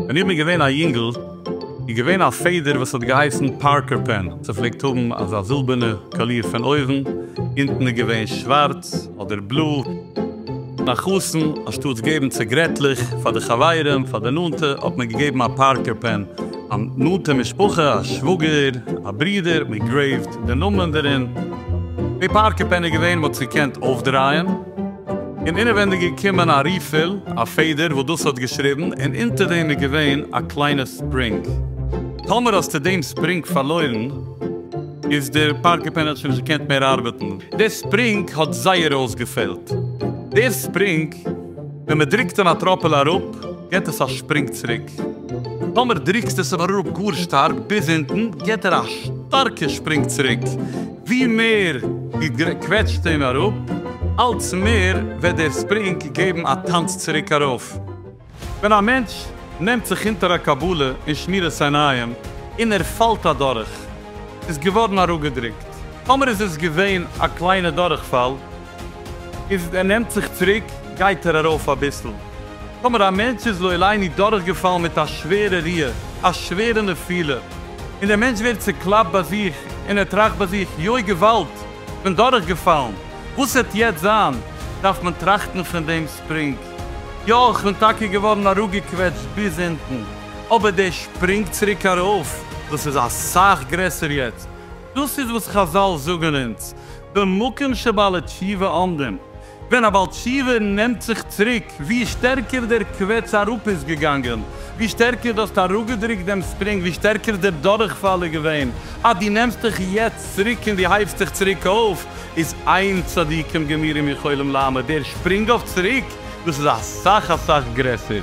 ווען איך בין געווען א יונגל איז געווען א פעדער וואס האט געהייסן פארקער פען, ס'פלעגט האבן אזא זילבערנע קאליר פון אויבן, אונטן איז געווען שווארץ, אדער בלו ביי חתן אנשטאטס געבן ציגרעטלעך פאר די חברים פאר די נאנטע האט מען געגעבן א פארקער פען, א נאנטע משפחה א שוואגער א ברודער האט מען גרעיווט די נאמען דערין, די פארקער פען איז געווען מ'האט עס געקענט אויפדרייען און אינעווענדיג איז געקומען א ריפיל א פעדער וואס דאס האט געשריבן און אונטער דעם איז געווען א קליינע ספרינג טאמער האסטו דעם ספרינג פארלוירן. איז דער פארקער פענעל שוין נישט געקענט מער ארבעטן. דער ספרינג האט זייער אויסגעפעלט. דער ספרינג, ווען מען דרוקט אן א טראפעלע אראפ, געט עס א שפרינג צוריק. טאמער דרוקסטו עס אבער אראפ גאר שטארק ביז אונטן, געט ער א שטארקע שפרינג צוריק. ווי מער דו קוועטשסט אים אראפ, אלץ מער וועט דער ספרינג געבן א טאנץ צוריק ארויף. ווען א מענטש נעמט זיך אונטער א קבלה און שמירת עיניים און ער פאלט אדורך, איז געווארן אראפגעדרוקט, טאמער איז עס געווען א קליינע דורכפאל איז ער נעמט זיך צוריק גייט ער ארויף אביסל, טאמער א מענטש איז לא עליני דורכגעפאלן מיט א שווערע ריע, א שווערע נפילה, און דער מענטש ווערט צוקלאפט ביי זיך און ער טראכט ביי זיך יוי געוואלד כ'בין דורכגעפאלן, וואס העט יעצט זיין, דארף מען טראכטן פון דעם ספרינג. יא איך בין טאקע געווארן אראפגעקוועטשט ביז אונטן, אבער דער שפרינג צוריק ארויף דאס איז אסאך גרעסער יעצט, דאס איז וואס חזל זאגן אונז, במקום שבעלי תשובה עומדים, ווען א בעל תשובה נעמט זיך צוריק, ווי שטערקער דער קוועטש אראפ איז געגאנגען, ווי שטערקער דו האסט אראפגעדרוקט דעם ספרינג, ווי שטערקער דער דורכפאל איז געווען, אז דו נעמסט דיך יעצט צוריק און דו הייבסט דיך צוריק אויף, איז איין צדיקים גמירים יכולים לעמוד דער שפרינג אויף צוריק, דאס איז אסאך אסאך גרעסער.